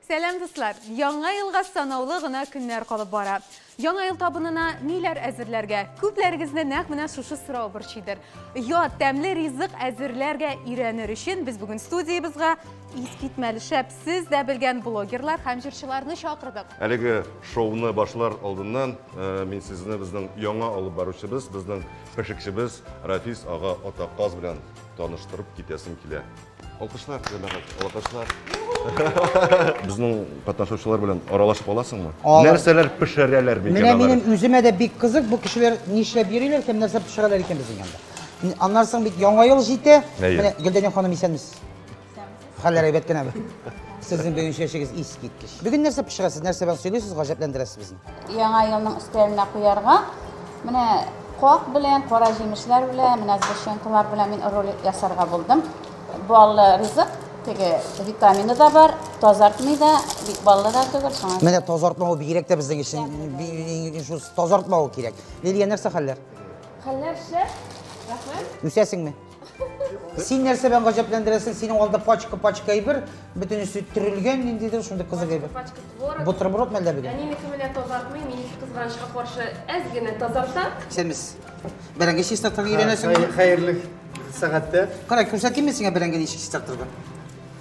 Сәлам дуслар! Яңа елга санаулы гына көннәр калып бара. Яңа ел табынына ниләр әзерләргә? Күпләрегезне нәкъ менә шушы сорау борчыйдыр. Ят, тәмле ризык әзерләргә өйрәнер өчен без бүген студиябезга искитмәле шәп, сез дә белгән блогерлар һәм җырчыларны чакырдык. Әлеге шоуны башлар алдыннан мин сезне безнең яңа алып баручыбыз, безнең пешекчебез Рафис ага Атаказ белән таныштырып китәсем килә. Алкышлар, җәмәгать, алкышлар. Безнең катнашучылар белән аралашып аласыңмы? Алам. Нәрсәләр пешерәләр микән Менә алар? минем үземә дә бик кызык, бу кешеләр нишләп йөриләр һәм нәрсә пешерәләр икән безнең янда. Н- Аннан соң бит яңа ел җитә. Әйе. Менә Гөлдәнем ханым исәнмесез. Хәлләр әйбәт кенәме? Сезнең бүгенче эшегез искиткеч. Бүген нәрсә пешерәсез, нәрсә белән сыйлыйсыз, гаҗәпләндерәсез безне? Яңа елның өстәленә куярга менә куак белән, кара җимешләр белән, менә сгущенкалар белән мин рулет ясарга булдым. Баллы ризык, теге витамины да бар, тазартмый да, бик баллы да түгел, шуңа. Менә тазартмау бигрәк тә безнең өчен шул тазартмау кирәк. Лилия, нәрсә хәлләр? Хәлләр шәп, рәхмәт. Үсәсеңме? Син нәрсә белән гаҗәпләндерәсең? Синең алда пачка-пачка әйбер, бөтенесе төрелгән ниндидер, шундый кызык әйбер. Пачка творог. Бутерброд мәлдә бүген? Әнинеке менә тазартмый, минеке кызганычка каршы әз генә тазарта. Сәмис. Бәрәңге чистартырга өйрәнәсең. Хәерле сәгатьтә. Кара, күрсәтимме сиңа бәрәңге ничек чистартырга?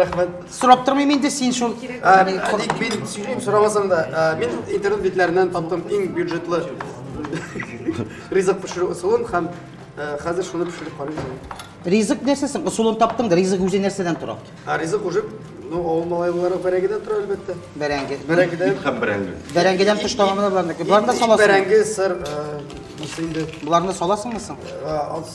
рәхмәт сорап тормыйм инде син шул тик мин сөйлим сорамасаң да мин интернет бетләреннән таптым иң бюджетлы ризык пешерү ысулын һәм хәзер шуны пешереп карыйм ризык нәрсәсен ысулын таптың да ризык үзе нәрсәдән тора ризык уже Ну, авыл малайлары бәрәңгедән тора, әлбәттә. Бәрәңге. Бәрәңгедән. Ит һәм бәрәңге. Бәрәңгедән тыш тагамына барныкы. Боларны саласың. Бәрәңге, сыр, нәрсә инде. Боларны саласыңмы соң? Аз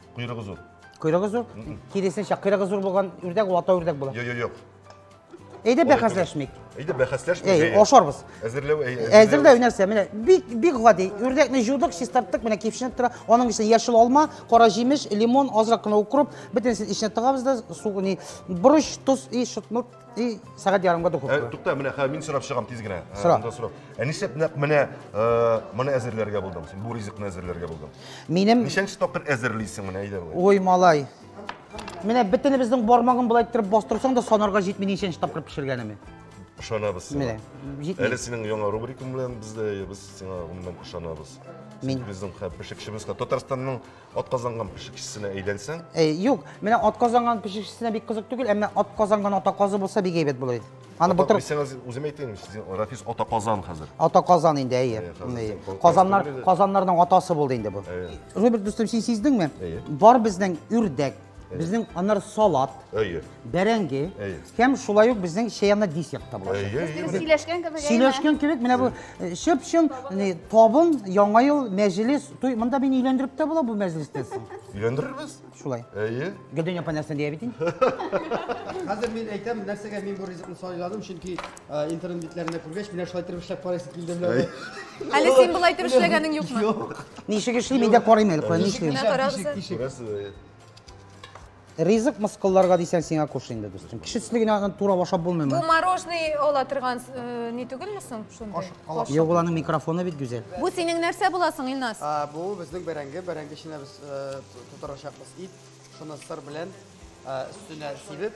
Куйрыгы зур. Куйрыгы зур? Киресенчә, куйрыгы зур булган үрдәк ул ата үрдәк була. Юк, юк, юк. Әйдә бәхәсләшмик. Әйдә бәхәсләшмик. Әй, ашарбыз. Әзерләү, әй, әзерләү нәрсә? Менә бик бик гади. Үрдәкне җудык, чистарттык, менә кипшенеп тора. Аның эченә яшел алма, кара җимеш, лимон, азрак кына укроп, бөтенесен эченә тыгабыз да, су, не, борыч, тоз и шутмур. И сәгать ярымга духовка. Ә, тукта, менә хәзер мин сорап чыгам тиз генә. Сора. Ә, сорап. Ә нишләп нәкъ менә э, моны әзерләргә булдың? Син бу ризыкны әзерләргә булдың. Минем Ничәнче тапкыр әзерлисең менә әйдә болай. Ой, малай. Менә бөтенебезнең бармагын болай иттереп бастырсаң да санарга җитми ничәнче тапкыр пешергәнемне. Ышанабыз сиңа. Менә, җитми. Әле синең яңа рубрикаң белән без дә без сиңа гомумән ышанабыз. Мин- Син безнең хә- пешекчебез. Татарстанның Атказанган пешекчесенә әйләнсәң? Э, юк, менә атказанган пешекчесенә бик кызык түгел, әмма атказанган атаказы булса бик әйбәт булыр иде. Аны былтыр Дисәгез, үзем әйтәйм, сез Рафис атаказан хәзер. Атаказан инде, әйе. Э, Казаннар, Казаннарның атасы булды инде бу. Роберт дустым, син сиздеңме? Бар безнең үрдәк, Безнең аннары салат, әйе, бәрәңге һәм шулай ук безнең чәйна десерт та була. Сөйләшкән кебек. Сөйләшкән кебек, менә бу э, чып-чын табын, яңа ел, мәҗлес, туй. Монда мин өйләндереп тә була бу мәҗлестә соң. Өйләндерербез. Шулай. Әйе. Гөлдән апа нәрсә дия бит инде. Хәзер мин әйтәм, нәрсәгә мин бу ризыкны сайладым, чөнки Интернет битләрендә күргәч, менә шулай итеп эшләп карыйсы килде белән. Әле син болай итеп эшләгәнең юкмы? Юк. Ничек эшли, мин дә карыйм әле, кая нишлим. Ризык мыскылларга дисәң сиңа куш инде, дустым. Кеше төсле генә аны тура ашап булмыймы? Бу мороженый ала торган э, не түгелме соң шундый? Юк, аның микрофоны бит гүзәл. Бу синең нәрсә буласың, Илназ? Бу безнең бәрәңге, бәрәңге эченә без э, тутырачакбыз ит, шуны сыр белән Өстенә сибеп,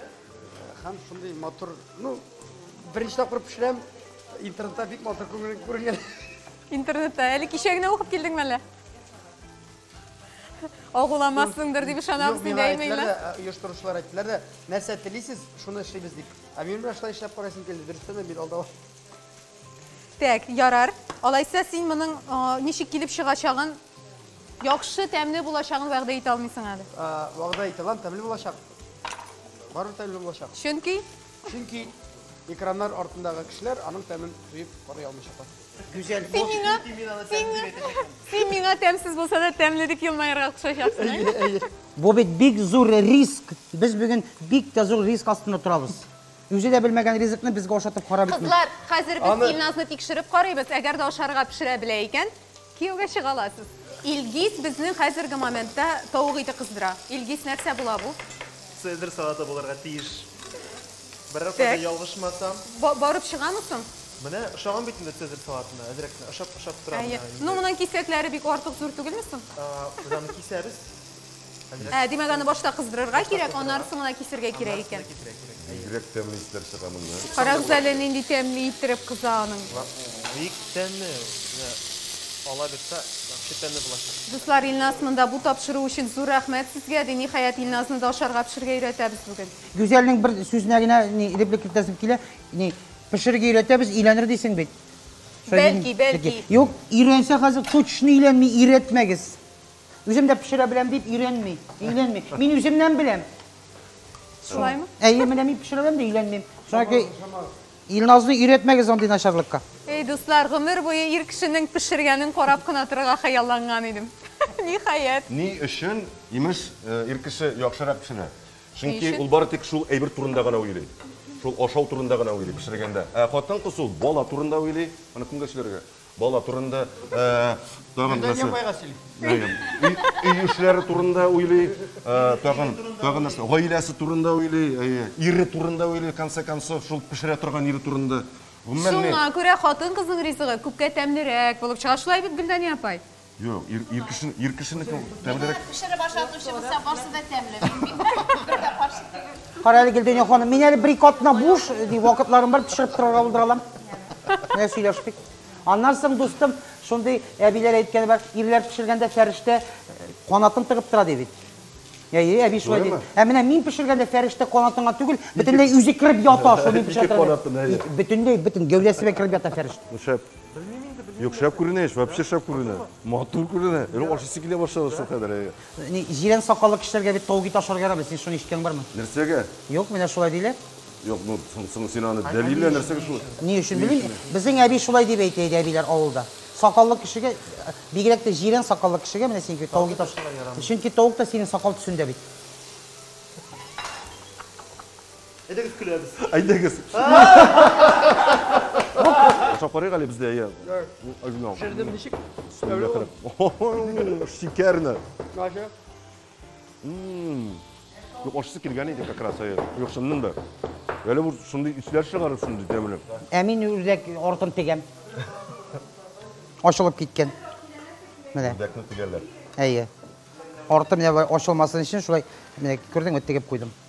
һәм шундый матур, ну, беренче тапкыр пешерәм, интернетта бик матур күренгән. Интернетта, әле кичә генә укып килдеңме әллә? Агуламассыңдыр дип ышанабыз, дип әйтмәйләр. Оештыручылар әйттеләр дә, нәрсә телисез, шуны эшлибез дип. Ә мин менә шулай эшләп карыйсым килде, дөрестән дә мин алда. Так, ярар. Алайса син моның ничек килеп чыгачагын Яхшы тәмле булачагын вәгъдә итә алмыйсың әле. Вәгъдә итә алам, тәмле булачак. Барыбер тәмле булачак. Чөнки? Чөнки экраннар артындагы кешеләр аның тәмен тоеп карый алмыйчаклар. Гүзәл, син миңа, син миңа, син миңа тәмсез булса да тәмле дип елмаерга кушачаксың. Әйе, әйе. Бу бит бик зур риск. Без бүген бик тә зур риск астында торабыз. Үзе дә белмәгән ризыкны безгә ашатып кара бит. Кызлар, хәзер без Илназны тикшереп карыйбыз. Әгәр дә ашарга пешерә белә икән, Кияүгә чыга аласыз. Илгиз безнең хәзерге моментта тавык ите кыздыра. Илгиз, нәрсә була бу? Цезарь салаты булырга тиеш. Берәр кайда ялгышмасам. Барып чыгамы соң? Менә ошаган бит инде цезарь салатына. Әзрәк кенә ошап тора менә инде. Ну, моның кисәкләре бик артык зур түгелме соң? Без аны кисәбез. Ә, димәк, аны башта кыздырырга кирәк, аннары соңына кисергә кирәк икән. Бигрәк тәмле исләр чыга моннан. Карагыз әле, нинди тәмле иттереп кыза аның. Бик тәмле. Ала бирсә, вообще тәмле булачак. Дуслар, Илназ монда бу тапшыру өчен зур рәхмәт сезгә, ди. Ниһаять, Илназны да ашарга пешергә өйрәтәбез бүген. Гүзәлнең бер сүзенә генә реплика кертәсем килә. Пешерергә өйрәтәбез, өйләнер дисең бит. Бәлки, бәлки. Юк, өйрәнсә хәзер точно өйләнми, өйрәтмәгез. Үзем дә пешерә беләм дип өйрәнми, өйләнми. Мин үземнән беләм. Шулаймы? Әйе, менә мин пешерә беләм дә өйләнмим. Шуңа Илназны өйрәтмәгез андый начарлыкка. Эй, дуслар, гомер буе ир кешенең пешергәнен карап кына торырга хыялланган идем. Ниһаять. Ни өчен, имеш, ир кеше яхшырак пешерә? Чөнки ул бары тик шул әйбер турында гына уйлый. Шул ашау турында гына уйлый пешергәндә. Ә хатын-кыз ул бала турында уйлый, аны кемгә сөйләргә? Бала турында тагын нәрсә? Гөлдәния апайга сөйли. Өй эшләре турында уйлый, тагын, тагын нәрсә? Гаиләсе турында уйлый, ире турында уйлый, конце концов, шул пешерә торган ире турында. Шуңа күрә хатын-кызның ризыгы күпкә тәмлерәк булып чыга. Шулай бит, Гөлдәния апай? Юк, ир, ир, кеше, ир кешенеке тәмлерәк. Пешереп ашатучы булса, барсы да тәмле. Мин бит бер дә каршы түгел. Кара әле Гөлдәнә ханым, мин әле бер-ике атна буш, ди, вакытларым бар, пешереп торырга булдыра алам. Менә сөйләштек. Аннан соң, дустым, шундый әбиләр әйткәне бар, ирләр пешергәндә фәрештә канатын тыгып тора, ди бит. Әйе, әби шулай ди. Ә менә мин пешергәндә фәрештә канатыңа түгел, бөтенләй үзе кереп ята, шуны мин пешерә торам. Бөтенләй, бөтен гәүдәсенә кереп ята фәрештә. Шәп. Белмим инде, белмим. Юк, шәп күренә еш, вообще шәп күренә. Матур күренә. Әле ашыйсы килә башлады шул кадәр. Ни, җирән сакаллы кешеләргә бит тауги ташарга ярамый. Син шуны ишеткән бармы? Нәрсәгә? Юк, менә шулай диләр. Юк, ну, соң син аны дәлиллә, нәрсәгә шулай? Ни өчен белмим? Безнең әби шулай дип әйтә иде әбиләр авылда. Сакаллы кешегә, бигрәк тә җирән сакаллы кешегә менә синеке тауги ташарга ярамый. Чөнки тавык та синең сакал төсендә бит. Әйдәгез көләбез. Әйдәгез. Ашап карыйк әле бездә, әйе. Әйдә. Җырдым ничек? Шикәрне. Наша. Юк, ашысы килгән иде как раз, әйе. Юк, шыннан да. Әле бу шундый исләр чыгарыр шундый тәмле. Ә мин үрдәк артын тегәм. Ашылып киткән. Менә. Үрдәкне тегәләр. Әйе. Арты менә ачылмасын өчен шулай, менә күрдеңме, тегеп куйдым.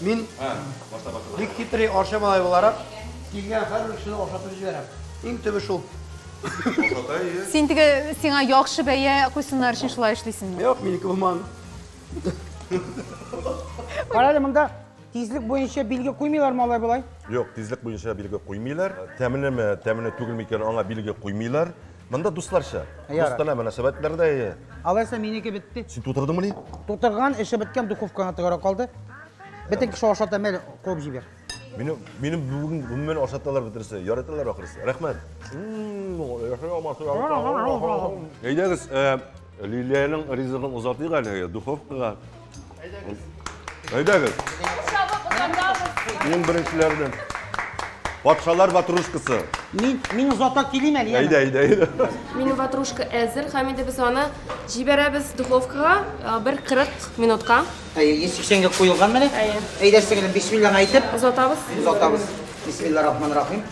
Мин бик хитрый Арча малае буларак, килгән һәрбер кешене ашатып җибәрәм. Иң төбе шул. Ашата, ие. Син теге сиңа яхшы бәя куйсыннар өчен шулай эшлисеңме? Юк, минеке булмаган. Кара әле, монда тизлек буенча билге куймыйлармы алай болай? Юк, тизлек буенча билге куймыйлар. Тәмлеме, тәмле түгелме икән, аңа билге куймыйлар. Монда дусларча. Дустанә мөнәсәбәтләр дә ие. Алайса минеке бетте. Син тутырдыңмы ни? Тутырган, эше беткән, духовкага тыгара калды. Бөтен кеше ашата мәл куып җибәр. Мине мине бүген гомумән ашаталар бөтенесе. Яраталар ахрысы. Рәхмәт. Әйдәгез, Лилиянең ризыгын озатыйк әле духовкага. Әйдәгез. Әйдәгез. Иң беренчеләрдән. Патшалар ватрушкасы. Мин мин озата килим әле. Әйдә, әйдә, әйдә. Минем ватрушка әзер, һәм инде без аны җибәрәбез духовкага бер 40 минутка. Әйе, 180 гә куелган менә. Әйдә, сеңелем, бисмиллаһ әйтеп. Озатабыз. Озатабыз. Бисмиллаһ рахман рахим.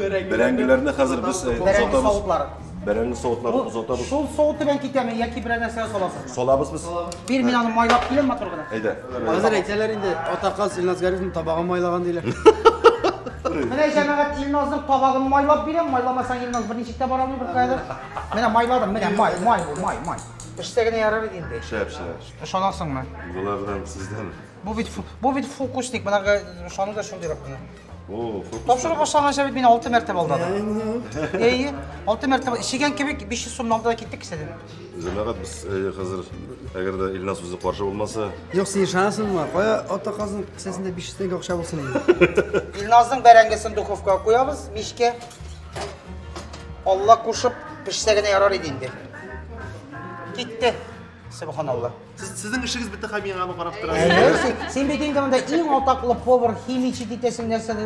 Бәрәңгеләрне хәзер без э, Бәрәңге озатабыз. савытлары. Бәрәңге савытларын озатабыз. Шул савыт белән китәме яки берәр нәрсә саласызмы? Салабыз без. Бир мин аны майлап киләм матур гына. Әйдә. Хәзер әйтәләр инде, атаказ Илназ Гарифның табагын майлаган диләр. Менә җәмәгать Илназның табагын майлап бирәм, майламасаң Илназ берничек тә бара алмый беркаядыр. Менә майладым, менә май, май, бу, май, май. Пешсә генә ярар иде инде. Шәп, шәп. Ышанасыңмы? Болардан сездән. Бу бит фу- бу бит фокусник, монарга ышану да шундыйрак кына. Тапшырып башланган шәбәт мин алты мәртәбә алдадым. Әйе, алты мәртәбә ишегән кебек 500 сумны алды да китте кесәдән. Җәмәгать без хәзер әгәр дә Илназ үзе каршы булмаса. Юк, син ышанасыңмы? Кая ата казның кесәсендә 500 тәңкә акча булсын инде. Илназның бәрәңгесен духовкага куябыз, мичкә. Алла кушып пешсә генә ярар иде инде. Китте. Субханалла. Сез, сезнең эшегез бетте һәм миңа аны карап торасыз. Әйе, син, син бит инде монда иң атаклы повар, химичи дитәсең нәрсә.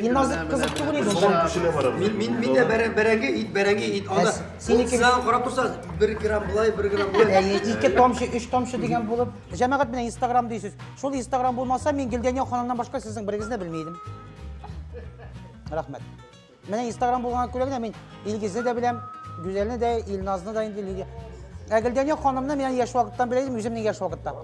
Мин назык кызык түгел иде. Сабан көченә барабыз. Мин мин мин дә бәрәң бәрәңге ит, бәрәңге ит. Анда синеке сез аны карап торсагыз, 1 грамм булай, 1 грамм булай. Әйе, 2 тамчы, 3 тамчы дигән булып. Җәмәгать менә Instagram дисез. Шул Instagram булмаса, мин Гөлдәния ханымнан башка сезнең берегезне белми идем. Рәхмәт. Менә Instagram булган күрә генә мин Илгизне дә беләм, Гүзәлне дә, Илназны да инде Лилия. Ә Гөлдәния ханымны мин яшь вакыттан белә идем, үземнең яшь вакытта.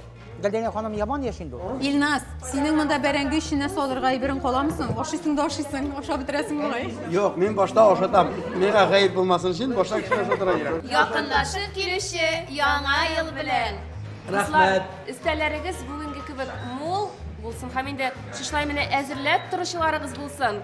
Гөлдәния ханым яман яшь инде ул. Илназ, синең монда бәрәңге эченә салырга әйберең каламы соң? Ашыйсың да ашыйсың, ашап бетерәсең бугай. Юк, мин башта ашатам. Миңа гаеп булмасын өчен башта кеше ашатырга кирәк. Якынлашып килүче Яңа ел белән! Рәхмәт! Өстәлләрегез бүгенге кебек мул булсын һәм инде шушылай менә әзерләп торучыларыгыз булсын!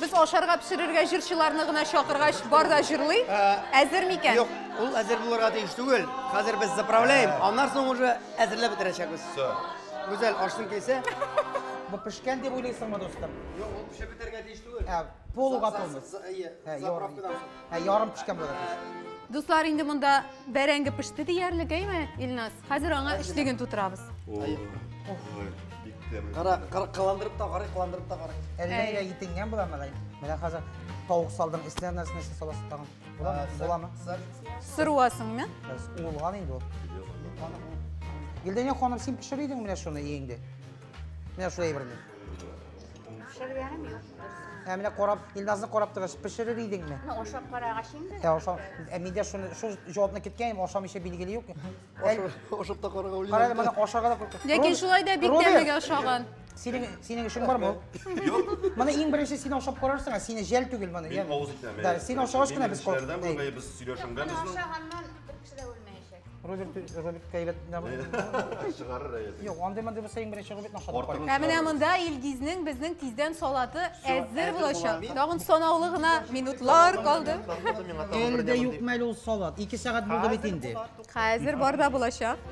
Без ашарга пешерергә җырчыларны гына чакыргач, бар да җырлый. Әзер микән? Юк, ул әзер булырга тиеш түгел. Хәзер без заправляем, аннан соң уже әзерләп бетерәчәкбез. Все. Гүзәл, ашсың килсә. Бу пешкән дип уйлыйсыңмы, дустым? Юк, ул пешеп бетәргә тиеш түгел. Ә, полуготовность. За- за- ие, Ә, заправкадан соң. Ә, ярым пешкән булырга тиеш. Дуслар, инде монда бәрәңге пеште диярлек, әйме, Илназ? Хәзер аңа өчлеген тутырабыз. Кара, кара, кыландырып та карый, кыландырып та карый. Әллә итенгән була малай. Менә хәзер тавык салдың, исләр нәрсәне сез саласыз тагын. Буламы? Буламы? Сыруасыңмы? Без уылган инде ул. Гөлдәнә ханым, син пешер идең менә шуны иеңде. Менә шулай әйберне. Пешергәнем юк дөресен. Ә менә карап, Илназны карап торгач, пешерер идеңме? Ну, ашап карагач инде. Ә ашау, ә миндә шуны, шул җавапны киткән, ашамыйча билгеле юк. Әл- Ашап та карага уйлый. Карады, моны ашарга да куркып. Ләкин шулай да бик Рубин, тәмлегә ошаган. Синең, синең эшең бармы? ул? Юк. Моны иң беренче син ашап карарсың, ә сине жәл түгел моны. Мин авыз итәм. Да, син ашагач кына без Кешеләрдән куркып. бергә без сөйләшенгән Аны безнең. ашаганнан Кеше дә үлмәячәк. Роберт Роберт кәйләп Чыгарыр әйәсе. Юк, андый мондый булса иң беренче Робертны ашатып Артыгын куй. Ә менә монда Илгизнең безнең тиздән салаты әзер әзер булачак. була. Тагын санаулы гына минутлар калды. Әле дә юк мәле ул салат. Ике сәгать булды бит инде. Хәзер бар да булачак.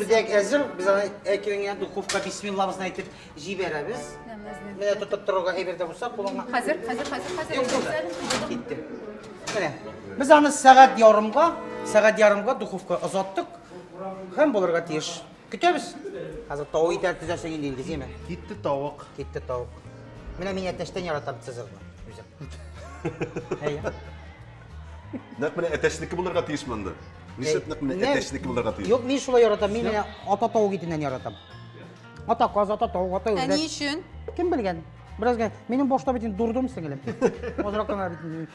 Үрдәк әзер, без аны әкренләп духовка бисмиллабызны әйтеп җибәрәбез. Менә тотып торырга әйбердә булса, кулыңа. Хәзер, хәзер, хәзер, хәзер. Юк, булды. Китте. Менә. Без аны сәгать ярымга, сәгать ярымга духовка озаттык. Һәм булырга тиеш. Көтәбез. Хәзер тавык итәр төзәсең инде Илгиз, яме. Китте тавык. Китте тавык. Менә мин әтәчтән яратам Цезарьны. Үзем. Әйе. Нәкъ менә әтәчнеке булырга тиеш монда. Нишләп нәкъ менә әтәчнеке булырга тиеш? Юк, мин шулай яратам. Мин менә ата тавык итеннән яратам. Ата каз, ата тавык, ата үрдәк. Ә ни өчен? Кем белгән? Бераз генә. Минем башта бит инде дурдом сеңелем. Азрак кына бит.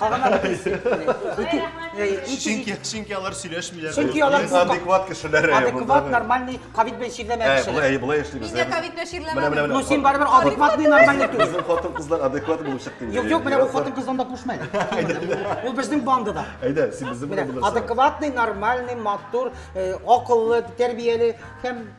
Калган бит. Чөнки чөнки алар сөйләшмиләр. Чөнки алар адекват кешеләр. Адекват, нормальный, ковид белән чирләмә кешеләр. Әй, болай яшибез. Нигә ковид белән чирләмә? Ну син барыбер адекватный, нормальный түгел. Безнең хатын кызлар адекват булып чыкты. Юк, юк, менә ул хатын кыз анда кушмый. Ул безнең бандада. Әйдә, син безнең белән булырсың. Адекватный, нормальный, матур, акыллы, тәрбияле һәм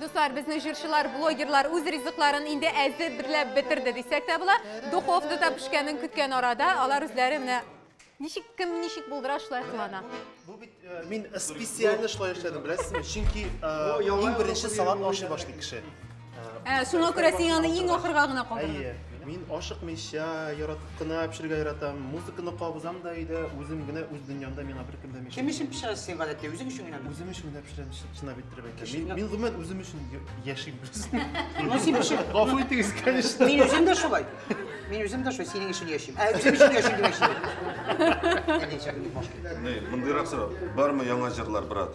Дуслар, безнең җырчылар, блогерлар үз ризыкларын инде әзер берләп бетерде дисәк тә була. Духовкада пешкәнен көткән арада алар үзләре менә ничек кем ничек булдыра шулай кылана. Бу бит э, мин специально шулай эшләдем, беләсезме? Чөнки э, иң беренче салат ашый башлый кеше. Ә, шуңа күрә син аны иң ахырга гына калдырдың. Әйе. Мин ашыкмыйча, яратып кына пешерергә яратам. Музыканы кабызам да өйдә, үзем генә үз дөньямда миңа беркем дә мешә. Кем өчен пешерәсең син гадәттә? Үзең өчен генәме? Үзем өчен генә пешерәм, чынлап иттереп әйтәм. Мин, мин гомумән үзем өчен яшим без. Ну син пешер. Гафу итегез, конечно. Мин үзем дә шулай. Мин үзем дә шулай, синең өчен яшим. Ә үзем өчен яшим димәкче. Әйдә, чакырып баш. Мондыйрак сорау. Бармы яңа җырлар, брат?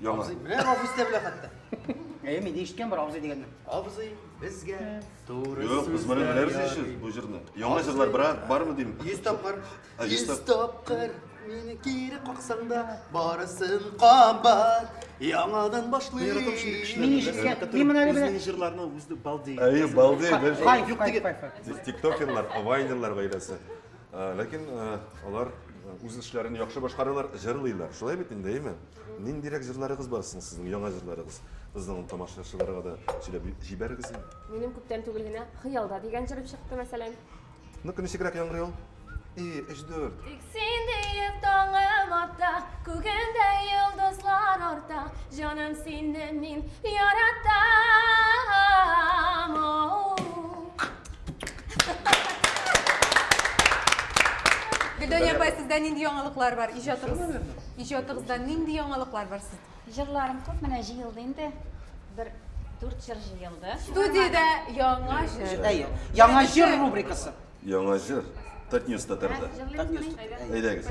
Яңа. Абзый, менә абзый дә белә хәтта. Әйе, мин ишеткән бер абзый дигәнне. Абзый, безгә туры сүз. Юк, без моны беләбез иши, бу җырны. Яңа җырлар бара, бармы дим? 100 тапкыр. 100 тапкыр мине кире каксаң да, барысын кабат. Яңадан башлыйм. Мин ишеткән, мин моны әле беләм. Безнең җырларны үзе балдей. Әйе, балдей. Юк диген. Без тиктокерлар, авайнерлар гаиләсе. Ләкин алар үз эшләрен яхшы башкаралар, җырлыйлар. Шулай бит инде, әйме? Ниндирәк җырларыгыз бар соң сезнең, яңа җырларыгыз? Безнең тамашачыларга да сөйләп җибәрегез. Минем күптән түгел генә Хыялда дигән җырым чыкты, мәсәлән. Ну-ка, ничегрәк яңгырый ул? И, өч, дүрт. Тик син диеп таңым атта, күгемдә йолдызлар арта, җаным сине мин яратам. Гөлдәния апай, сездә нинди яңалыклар бар? Иҗатыгыз, иҗатыгызда нинди яңалыклар бар сездә? Җырларым күп менә җыелды инде. Бер дүрт җыр җыелды. Студиядә яңа җыр. Әйе. Яңа җыр рубрикасы. Яңа җыр. Татньюс татарда. Әйдәгез.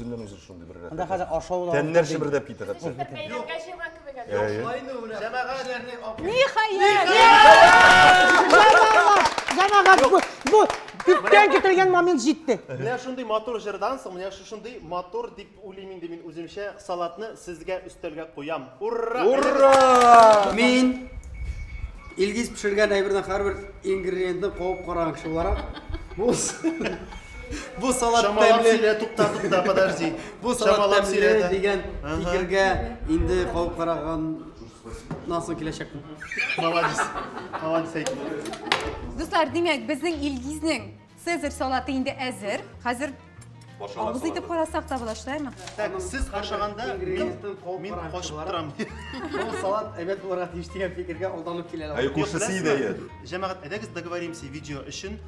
Теллән үзер шундый бер рәхәт. Анда хәзер ашау да. Тәннәр чебердәп китә хәтта. Бәйләмгә җыйган кебек әле. Ниһаять! Җәмәгать, бу, бу күптән көтелгән момент җитте. Менә шундый матур җырдан соң, менә шушындый матур дип уйлыйм инде мин үземчә салатны сезгә өстәлгә куям. Ура! Ура! Мин Илгиз пешергән әйбердән һәрбер ингредиентны кабып караган кеше буларак, бу Бу салат тәмле. Чамалап сөйлә, тукта, тукта, подожди. Бу салат тәмле дигән фикергә инде калып караган Насыл киләчәк. Молодец. Молодец әйт. Дуслар, димәк, безнең Илгизнең Цезарь салаты инде әзер. Хәзер Авыз итеп карасак та була, шулаймы? Так, сез ашаганда мин качып торам. Бу салат әйбәт булырга тиеш дигән фикергә алданып киләләр. Әй, күршесе иде. Җәмәгать, әйдәгез договоримся видео өчен.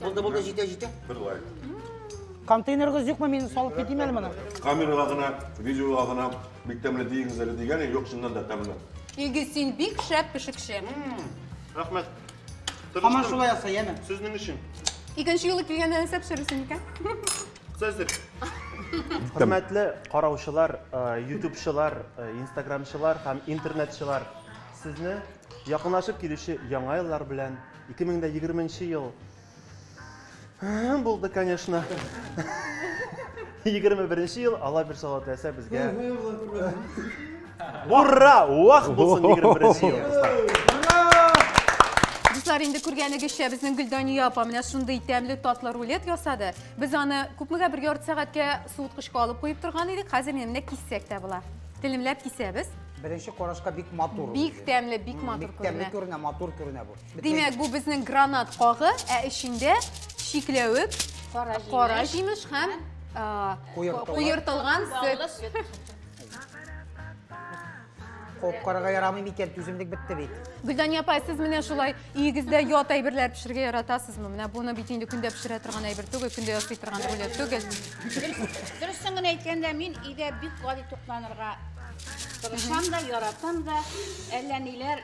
Булды, булды, җитә, җитә. Бер лайк. Контейнерыгыз юкмы, мин салып китим әле моны? Камерага гына, видеога гына бик тәмле дигез әле дигән, юк, чыннан да тәмле. Иге син бик шәп пешекче. Рәхмәт. Һаман шулай яса, яме. Сезнең өчен. Икенче юлы килгәндә нәрсә пешерерсең икән? Цезарь. Хөрмәтле караучылар, э, ютубчылар, э, инстаграмчылар һәм интернетчылар, сезне якынлашып килүче яңа еллар белән Ике мең дә егерменче ел булды, конечно. Егерме беренче ел, Алла бер сала теләсә безгә. Ура! Уах булсын егерме беренче ел, Дуслар, инде күргәнегезчә, безнең Гөлдания апа менә шундый тәмле татлы рулет ясады. Без аны күпмегә бер ярты сәгатькә суыткычка алып куеп торган идек. Хәзер менә киссәк тә була. Телемләп кисәбез. Беренче карашка бик матур. Бик тәмле, бик матур күренә. Бик тәмле күренә, матур күренә бу. Димәк, бу безнең гранат кагы, ә эчендә чикләвек, кара җимеш һәм куертылган сөт. Копкарга ярамый микән, түземлек бетте бит. Гөлдания апай, сез менә шулай өегездә ят әйберләр пешерергә яратасызмы? Менә буны бит инде көндә пешерә торган әйбер түгел, көндә ясый торган рулет түгел. Дөресен генә әйткәндә, мин өйдә бик гади тукланырга Тырышам да, яратам да, әллә ниләр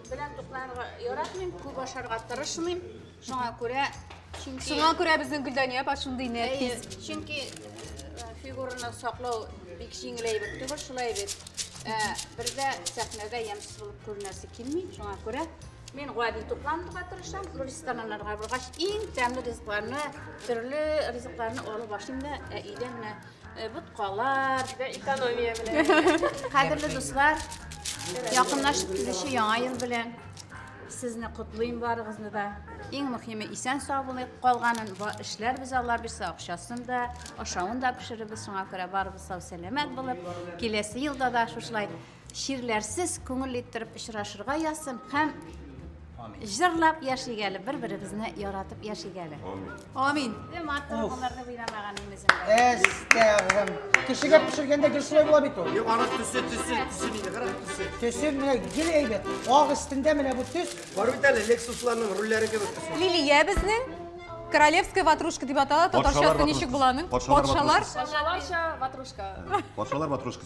белән тукланырга яратмыйм, күп ашарга тырышмыйм. Шуңа күрә чөнки Шуңа күрә безнең Гөлдания апа шундый нәфис. Чөнки фигураны саклау бик җиңел әйбер түгел, шулай бит. Ә, бердә сәхнәдә ямьсез булып күренәсе килми, шуңа күрә мин гади тукланырга тырышам, рестораннарга баргач, иң тәмле ризыкларны, төрле ризыкларны алып ашыйм да, ә өйдә менә Э, боткалар. Бер экономия белән. Кадерле дуслар, якынлашып килүче яңа ел белән сезне котлыйм барыгызны да. Иң мөһиме исән сау булыйк. Калганын эшләрбез Алла бирсә, акчасын да, ашавын да пешерербез. Шуңа күрә барыбыз сау сәламәт булып, киләсе елда да шушылай Чирләрсез күңел иттереп очрашырга язсын һәм җырлап яшик әле, бер-беребезне яратып яшик әле. Амин. Матур булырды уйламаган имезем. Әстәгъфирм. Кешегә пешергәндә гел шулай була бит ул. Юк, аны төсе, төсе, төсе нидә, кара төсе. Төсе менә гел әйбәт. Ак өстендә менә бу төс. Бар бит әле Лексусларның рульләре кебек төсе. Лилия безнең королевская ватрушка дип атала, татарчасы ничек буланың? Патшалар. Патшаларча ватрушка. Патшалар ватрушка.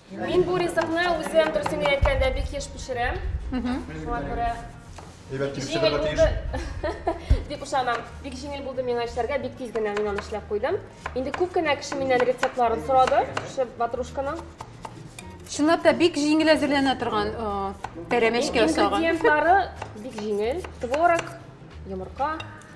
Мин бу ризыкны үзем дөресен әйткәндә бик еш пешерәм. Шуңа күрә Әйбәт килешергә тиеш. Дип ышанам. Бик җиңел булды миңа эшләргә, бик тиз генә мин аны эшләп куйдым. Инде күп кенә кеше миннән рецептларын сорады, шушы ватрушканың. Чынлап та бик җиңел әзерләнә торган пәрәмәчкә охшаган. Ингредиентлары бик җиңел. Творог, йомырка,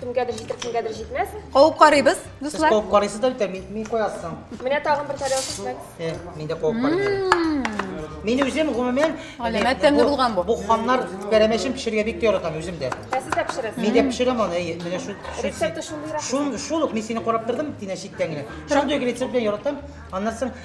Кемгәдер җитер, кемгәдер җитмәс. Куып карыйбыз, Сез дуслар. куып карыйсыз да бит, мин, мин куясың. Менә тагын бер тарелка шмәк. Э, мин дә куып карыйм. Мин үзем гомумән Галәмәт тәмле булган бу. Бу ханнар пәрәмәчен пешерергә бик тә яратам үзем дә. Ә сез дә пешерәсез. Мин дә пешерәм аны, әйе, менә шу шу- Рецепты шундыйрак. Шун шул ук мин сине карап тордым, тинә читтән генә. Шундый ук рецепт белән яратам. Аннан соң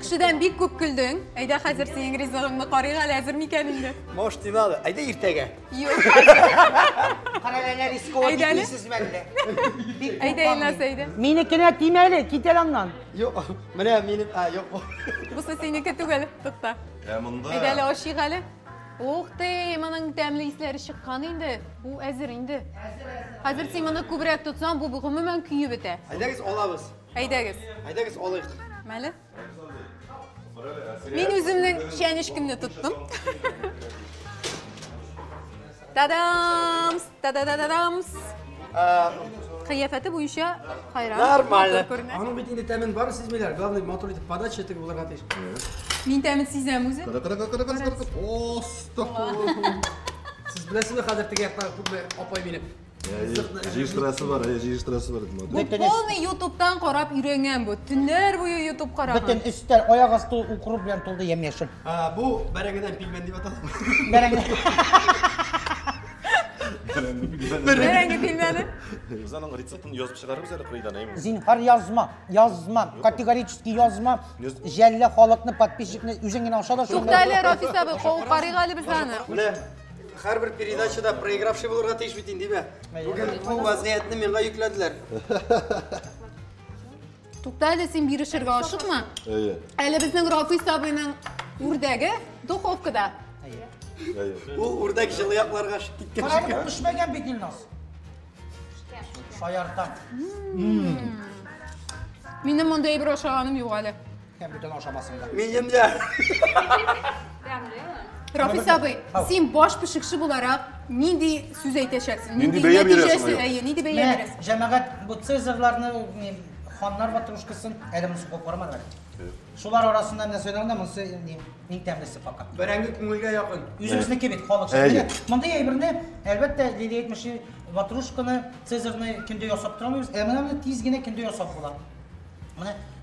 Кешедән бик күп көлдең. Әйдә хәзер синең ризыгыңны карыйк әле, әзер микән инде? Мош тималы, әйдә иртәгә. Юк. Кара ләнә рискова китмисез мәллә. Әйдә Илназ, әйдә. Минекенә тимә әле, кит әле аннан. Юк, менә минем, а, юк бу. Бусы синеке түгел, тукта. Ә монда. Әйдә әле ашыйк әле. Ух ты, моның тәмле исләре чыккан инде. Бу әзер инде. Хәзер син моны күбрәк тотсаң, бу гомумән көеп бетә. Әйдәгез алабыз. Әйдәгез. Әйдәгез алыйк. Мәле. Мин үземнең чәнечкемне тоттым. Тадамс! Тададададамс! Кыяфәте буенча хайран. Нормально. Аның бит инде тәмен бар, сизмиләр. Главный матур итеп подача итеп булырга тиеш. Мин тәмен сизәм үзе. Кара, кара, кара, кара, кара. Остахур. Сез беләсезме хәзер теге яктагы күпме апай мине Җыештырасы бар, ә җыештырасы бар. Бу полный ютубтан карап өйрәнгән бу. Төннәр буе ютуб караган. Бөтен өстәл аяк асты укру белән тулды ямь-яшел. Бу бәрәңгедән пилмән дип атала. Бәрәңге. Бәрәңге пилмәне. Без аның рецептын язып чыгарыбыз әле кырыйдан, әйме? Зинһар язма, язма, категорически язма. Жәллә халыкны, подписчикны үзең генә аша да шул. Туктале, Рафис абый, карыйк әле без аны. Менә Һәрбер передачада проигравший булырга тиеш бит инде, димә. Бүген бу вазгыятьне миңа йөкләделәр. Тукта әле син бирешергә ашыкма. Әйе. Әле безнең Рафис абыйның үрдәге духовкада. Әйе. Ул үрдәк җылы якларга ашып киткән. Карап пешмәгән бит Илназ. Шаяртам. Минем мондый әйбер ашаганым юк әле. Һәм бүтән ашамасында. Минемдә. Рафис абый, син баш пешекче буларак нинди сүз әйтәчәксең? Нинди бәя бирәсең? Әйе, нинди бәя бирәсең? Җәмәгать бу цезарларны, ханнар батрушкасын әле монысы куып карамадылар. Шулар арасында нәрсә сөйләгәндә монысы иң тәмлесе пока. Бәрәңге күңелгә якын. Үзебезнеке бит халык. Мондый әйберне, әлбәттә, Лилия әйтмешли, батрушканы, цезарны көндә ясап тормыйбыз. Ә менә тиз генә көндә ясап була. Менә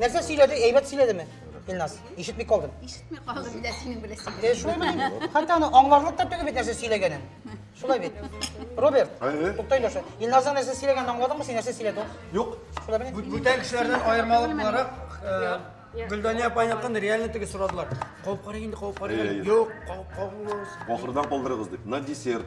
Нәрсә сөйләде? Әйбәт сөйләдеме? Илназ, ишетми калдым. Ишетми калдым, менә синең белән сөйләдем. Э, шулай белән. Хәтта аны аңларлык та түгел бит нәрсә сөйләгәнен. Шулай бит. Роберт, Әйе. тукта Илназга. Илназның нәрсә сөйләгәнен аңладыңмы син? Нәрсә сөйләде ул? Юк. Шулай белән. Бу- Бүтән кешеләрдән аермалы буларак, э, Гөлдания апайны кын реально теге сорадылар. Кауып карый инде, кауып карый. Әйе, әйе. Юк, кауып кабылмагыз. Ахырдан калдырыгыз дип. На десерт.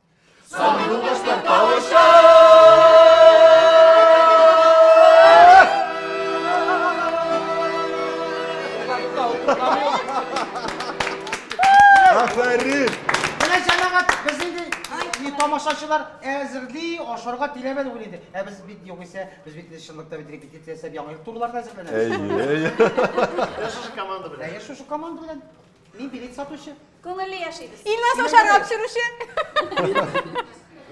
тамашачылар әзерли, ашарга тиләмән ул инде. Ә без бит югыйсә, без бит чынлыкта бит репетиция ясап яңа ел турларына әзерләнәбез. Әйе, әйе. Шушы команда белән. Әйе, шушы команда белән. Мин билет сатучы. Күңелле яшибез. Илназ ашарга пешерүче.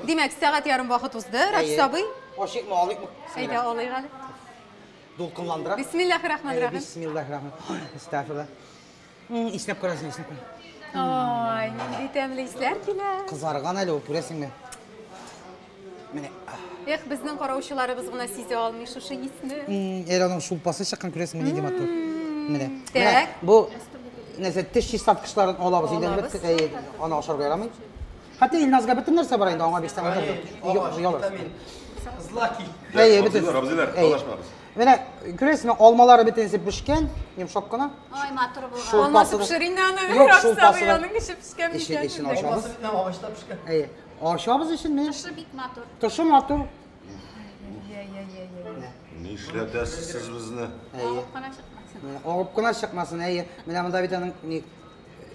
Димәк, сәгать ярым вакыт узды, Рәфис сабый. Ашыкмы, алыйкмы? Әйдә, алыйк әле. Дулкынландыра. Бисмиллахи рахмани рахим. Бисмиллахи рахмани. Истәфила. Иснәп күрәсең, иснәп күрәсең. Ой, нинди тәмле исләр килә. Кызарган әле ул, күрәсеңме? Менә. Эх, безнең караучыларыбыз гына сизә алмый шушы исне. Әле аның шулпасы чыккан күрәсең менә нинди матур. Менә. Менә бу нәрсә теш чистарткычларын алабыз инде бит аны ашарга ярамый. Хәтта Илназга бөтен нәрсә бар инде аңа бирсәң алыр. Злаки. Әйе, бөтен. Абзыйлар, талашмагыз. Менә күрәсезме, алмалары бөтенесе пешкән, йомшак кына. Ай, матур булган. Алмасы пешер инде аны. Юк, шулпасы. Аның кеше пешкән микән? Ишен ачабыз. Агачлар пешкән. Әйе. Ашабыз исеме? Тышы бик матур. Тышы матур. Ни эшләтәсез сез безне? Әйе. Агып кына чыкмасын. Әйе. Менә монда бит аның ни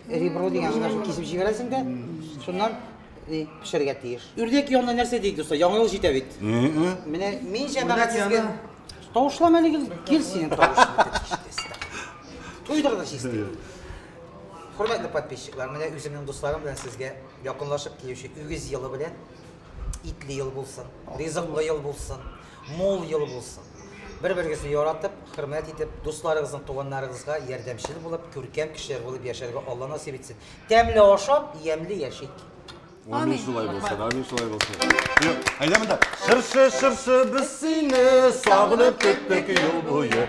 ребро дигән гына шул кисеп җибәрәсең дә, шуннан ни пешерергә тиеш. Үрдәк янына нәрсә дик дуслар? Яңа ел җитә бит. Менә мин җәмәгать сезгә тавышлама әле кил синең тавышың. Туйдырдык чистый. Хөрмәтле подписчиклар, менә үземнең дусларым белән сезгә Якынлашып килүче үгез елы белән итле ел булсын, ризыклы ел булсын, мул ел булсын. Бер-берегезне яратып, хөрмәт итеп, дусларыгызның, туганнарыгызга ярдәмчел булып, күркәм кешеләр булып яшәргә Алла насыйп итсен. Тәмле ашап, ямьле яшик. Амин шулай булсын, амин шулай булсын. Әйдә монда. Шыршы, шыршы, без сине сагынып көттек ел буе.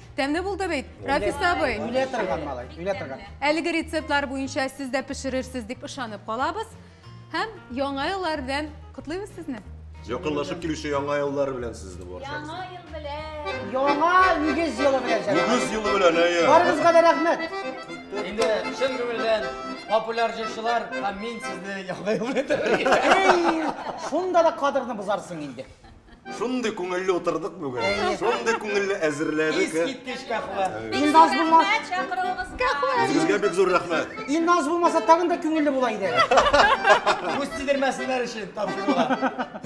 Тәмле булды бит, Рафис абый. Үлә торган малай, үлә торган. Әлеге рецептлар буенча сез дә пешерерсез дип ышанып калабыз. Һәм яңа еллар белән котлыйбыз сезне. Якынлашып килүче яңа еллар белән сезне баршагызны. Яңа ел белән. Яңа үгез елы белән җәнәк. Үгез елы белән, әйе. Барыгызга да рәхмәт. Инде чын күңелдән популяр җырчылар һәм мин сезне яңа ел белән тәбрик итәм. Эй, шунда да кадерне бозарсың инде. Шундый күңелле утырдык бүген. Шундый күңелле әзерләдек. Искиткеч кахва. Илназ булмас. Үзегезгә бик зур рәхмәт. Илназ булмаса тагын да күңелле була иде. Күз тидермәсеннәр өчен тапшырулар.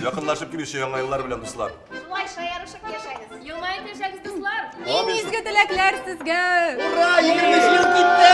Якынлашып килүче яңа еллар белән, дуслар. Шулай шаярышып яшәгез. Елмаеп яшәгез, дуслар. Иң изге теләкләр сезгә. Ура, 20 ел китте.